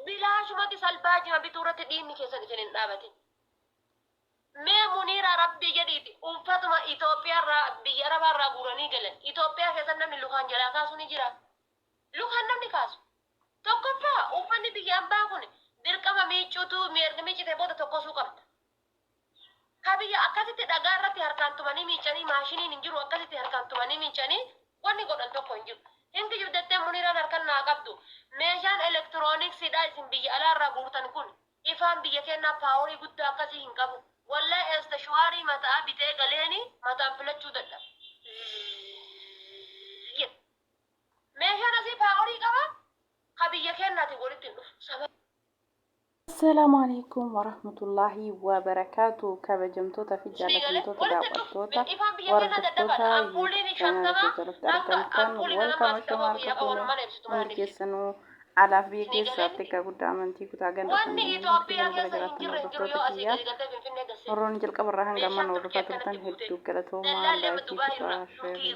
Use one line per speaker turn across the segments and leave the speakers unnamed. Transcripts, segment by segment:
bilaashumatti salbaa jima bituu irratti dhiinni keessan isin hin dhaabatin. Mee muniira rabbii jedhiiti uffatuma Itoophiyaa irraa biyya arabaa irraa guuranii galan Itoophiyaa keessatti namni lukaan jalaa kaasu ni jira. Lukaan namni kaasu. Tokkoffaa uffanni biyya ambaa kun dirqama miicuutu miicite booda tokkosuu qabda. Ka biyya akkasitti dhagaa irratti harkaan tumanii miiccanii maashiniin hin jiru akkasitti harkaan tumanii miiccanii wanni godhan tokko hin jiru. Hin kijibdattee Muniiraan harkan naa qabdu. Meeshaan elektirooniksiidhaa isin biyya alaa irraa guurtan kun ifaan biyya keennaa paaworii guddaa akkasii hin qabu. Wallahi eestashwaarii mata'aa bitee galeeni mataan filachuu dadhabe. Zzzzzzzz jedhe. Meeshaan asii paaworii qabaa? Ka biyya keennaatiin walitti hin dhufu. Sababa.
Assalaamu alaikum warahmatullaahi wabarakaatu kabajamtoota fi jaalatamtoota daawwattoota hordoftoota yuutuub chaanaala koo jalatti argamtan welkama shama harka fuune hundi keessanuu alaaf biyya keessaatti akka guddaa amantii kutaa ganda kanneen hundi kan gara jiraattan hordoftoota kiyyaa warroonni jalqaba irraa hanga ammaan hordofaa turtan hedduu galatoomaa laayikii kutaa sheerii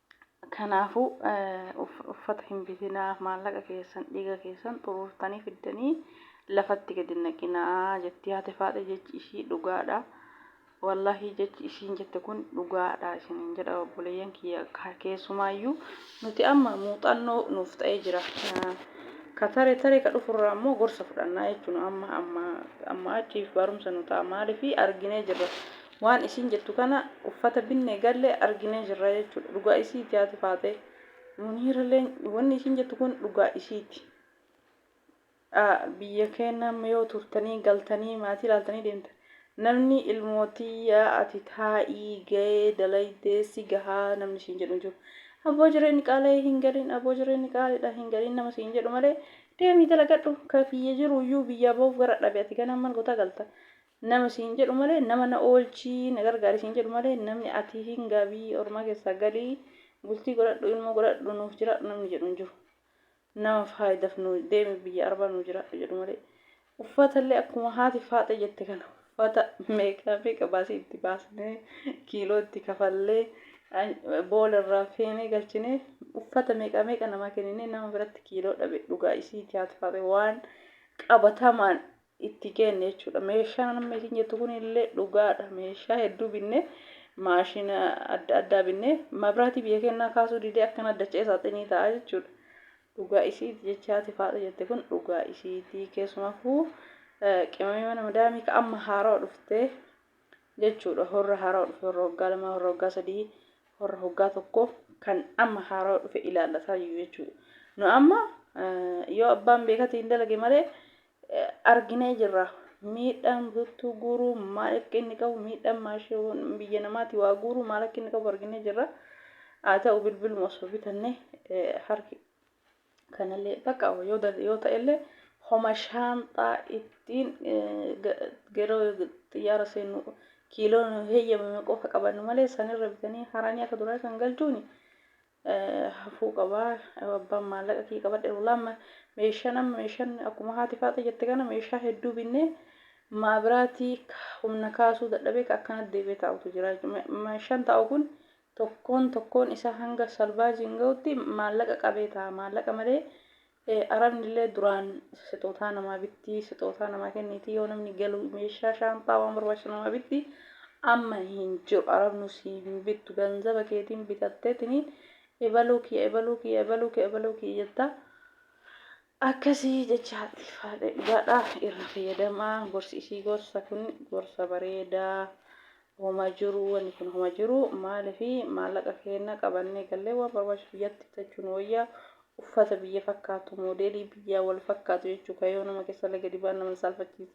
Kanaafuu, uffata hin bitinaa, maallaqa keessan, dhiiga keessan xuruurtanii fiddanii lafatti gad hin naqinaa, jetti haati Faaxee jechi ishii dhugaa dha. Wallaahi jechi ishiin jette kun dhugaa dha isiniin jedha obboleeyyan kiyya keessumaayyuu nuti amma muuxannoo nuuf ta'ee jira. Ka tare tare ka dhufurraa immoo gorsa fudhannaa jechuun amma amma amma achiif barumsa nu ta'a maaliif arginee jirra Waan isiin jettu kana uffata binne galle argine jirra jechuudha dhugaa isiiti haati faaxee muniiralleen wanni isiin jettu kun dhugaa isiiti biyya keenna amma yoo turtanii galtanii maatii ilaaltanii deemta namni ilmootiyya ati taa'ii ga'ee dalaydee si gahaa namni isiin jedhu hin jiru aboo jireenyi qaala'ee hin galin aboo jireenyi qaaliidha hin galin nama siin jedhu malee deemii dalagadhu ka biyya jiruyyuu biyyaa ba'uuf gara dhabe ati ganaan mal gotaa galta Nama siin jedhu malee nama na oolchi, na gargaari siin jedhu malee namni ati hingaa biyya ormaa keessaa gali, bultii godhadhu, ilmoo godhadhu, nuuf jiraadhu namni jedhu hin jiru. Nama faayidaf nu deemi biyya arbaa nu jiraadhu jedhu malee. Uffata illee akkuma haati faaxee jette kana uffata meeqa meeqa baasii itti baasnee kiiloo itti kafallee boola irraa feenee galchinee uffata meeqa meeqa namaa kenninee nama biratti kiiloo dhabe dhugaa isiiti haati faaxee waan qabatamaan itti geenne jechuudha. Meeshaan amma isin jettu kun illee dhugaadha. Meeshaa hedduu binnee maashina adda addaa binnee mabraatii biyya kennaa kaasuu didee akkana dacha'ee saaxinii ta'a jechuudha. Dhugaa isiiti jechaati faadha jette kun dhugaa isiiti keessumaafuu qimamii mana madaamii ka amma haarawa dhuftee jechuudha. Horra haarawa dhufe horra waggaa lamaa horra waggaa sadii horra waggaa tokko kan amma haarawa dhufe ilaallataa jiru jechuudha. Nu amma yoo abbaan beekatii hin dalage malee arginee jirra. Miidhaan buttuu guuruu maal akka inni qabu miidhaan maashiin biyya namaati waa guuruu maal akka inni qabu arginee jirra. Haa ta'u bilbiluma osoo bitanne harki kanallee bakka yoo yoo ta'ellee homa shaanxaa ittiin yeroo xiyyaara seennu kiiloon heeyyamame qofa qabannu malee sanirra bitanii haranii akka duraa kan galchuuni hafuu qaba abbaan maallaqa kiyya qabadhe ruulaamma meeshaan amma meeshaan akkuma haati faaxa jette kana meeshaa hedduu binnee maabiraatii humna kaasuu dadhabee ka akkanatti deebi'ee taa'utu jira meeshaan taa'u kun tokkoon tokkoon isaa hanga salbaajiin ga'utti maallaqa qabee ta'a maallaqa malee Arabnillee duraan sixootaa namaa bitti, sixootaa namaa kenniti, yoo namni galu meeshaa shaanxaa waan barbaachisu namaa bitti. Amma hin jiru. Arabnu sii hin bittu. Ganzaba keetiin bitatteetini ebaluu kiyya, ebaluu kiyya, ebaluu kiyya, ebaluu kiyya jetta. Akkasii jecha haadha irra fayyadamaa. Gorsi isii gorsa kun gorsa bareedaa. Homa jiruu wani kun homa jiruu maalifi maallaqa keenna qabannee gallee waan barbaachisu biyyatti bitachuu nu wayya uffata biyya fakkaatu moodeelii biyyaa wal fakkaatu jechuu kayoo nama keessa laga dibaan nama hin saalfachiisa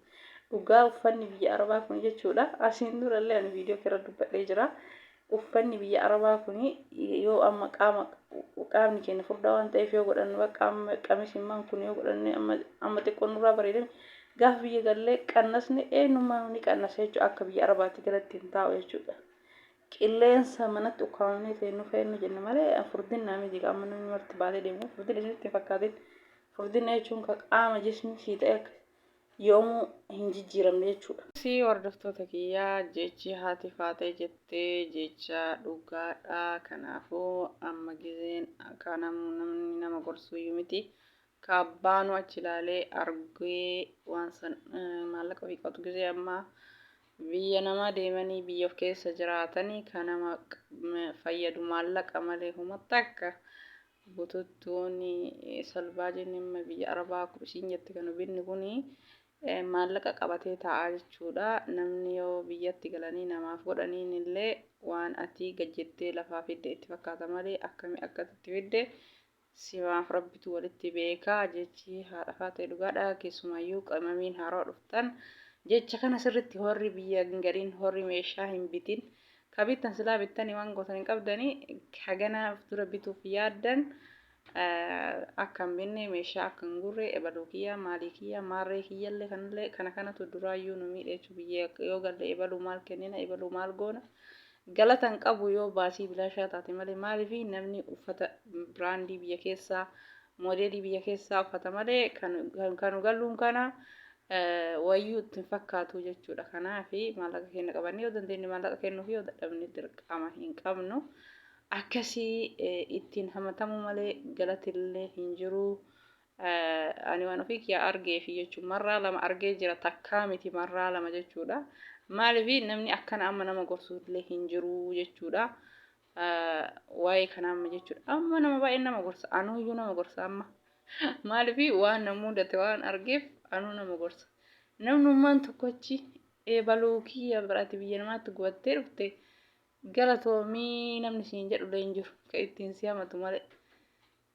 dhugaa uffanni biyya arabaa kun jechuudha asiin dura illee ani viidiyoo keerra dubbadhee jira uffanni biyya arabaa kun yoo amma qaama qaamni keenya furdaa waan ta'eef yoo godhanne qaama qamisimmaan kun yoo godhanne amma xiqqoo nurraa bareedame Gaafa biyya gallee qannasni eenyummaanuu ni qannasa jechuudha. Akka biyya Arabaatti galatti hin taa'u jechuudha. Qilleensa manatti ukkaamamnee feennu feennu jenna malee furdinnaa miti qaama namni marti baatee deemu furdinni isinitti hin fakkaatin. Furdinna jechuun kan qaama jismii sii ta'e akka yoomuu hin jijjiiramne jechuudha. Sii hordoftoota kiyyaa jechi haati faaxee jettee jecha dhugaadha. Kanaafuu amma gizeen akka namni nama gorsuyyuu miti. Ka abbaanuu achi ilaalee arguee waan san maallaqa ofii qabatu gizee ammaa biyya namaa deemanii biyya of keessa jiraatanii ka nama fayyadu maallaqa malee homa takka bututtuun salbaajiin amma biyya arabaa akkuma isiin jette kan ubinni kun maallaqa qabatee taa'aa jechuudha namni yoo biyyatti galanii namaaf godhaniin illee waan atii gajjettee lafaa fidde itti fakkaata malee akkami akkatti itti fidde Simaaf rabbitu walitti beeka jechi haadha faaxee dhugaadha keessumayyuu qimamiin haarawa dhuftan jecha kana sirritti horri biyya hin galin horri meeshaa hin bitin ka bittan silaa bittani waan gootan hin qabdani hagana dura bituuf yaaddan akka hin binne meeshaa akka hin gurre ebaluu kiyya maalii kiyya maarree kiyyallee kanallee kana kanatu duraayyuu nu miidheechu biyya yoo galle ebaluu maal kennina ebaluu maal goona Galata hin qabu yoo baasii bilaashaa taate malee maaliif namni uffata biraandii biyya keessaa moodeelii biyya keessaa uffata malee kan kan nu galluun kana wayyuu itti hin fakkaatu jechuudha kanaaf maallaqa keenya qabannee yoo dandeenye maallaqa kennuuf yoo dadhabne dirqama hin qabnu akkasii ittiin hamatamuu malee galatillee hin jiru Ani waan ofii kiyyaa argeefi jechuun marraa lama argee jira takkaa miti marraa lama jechuudha. Maaliif namni akkana amma nama gorsuullee hin jiru jechuudha. Waa'ee kana amma jechuudha. Amma nama baay'een nama gorsa. Anuuyyuu nama gorsa amma. Maaliif waan na mudate waan argeef anuu nama gorsa. Namnummaan tokkochi eebaluu kiyya biraati biyya namaatti gubattee dhufte galatoomii namni siin jedhullee hin jiru. Ka ittiin si hamatu malee.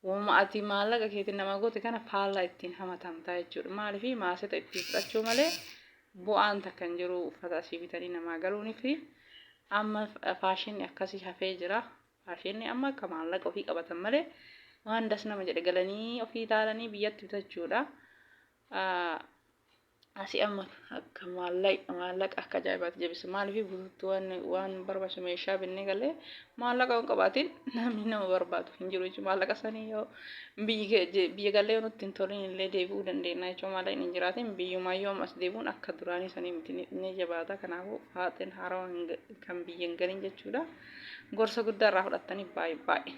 Wahuma ati maallaqa keetiin namaa goote kana faallaa ittiin hamatamtaa jechuudha. Maaliif maaseta ittiin fudhachuu malee bu'aan takka hin jiru uffata asii bitanii namaa galuunii fi amma faashinni akkasii hafee jira. Faashinni amma akka maallaqa ofii qabatan malee waan das nama jedhe galanii ofii ilaalanii biyyatti bitachuudha. Asi amma akka maallaqa maallaqa akka ajaa'ibaatti jabisa maaliif guutuu waan waan barbaachisu meeshaa binnee galee maallaqa hin qabaatiin namni nama barbaadu hin jiru jechuudha maallaqa sanii yoo biyyi biyya galee yoo nutti hin toliin illee deebi'uu dandeenya jechuudha maallaqni hin jiraatiin biyyumaa yoo ammas deebi'uun akka duraanii sanii miti ni jabaata kanaafuu haaxeen haarawa kan biyya hin galin jechuudha gorsa guddaa irraa fudhattanii baay'ee baay'ee.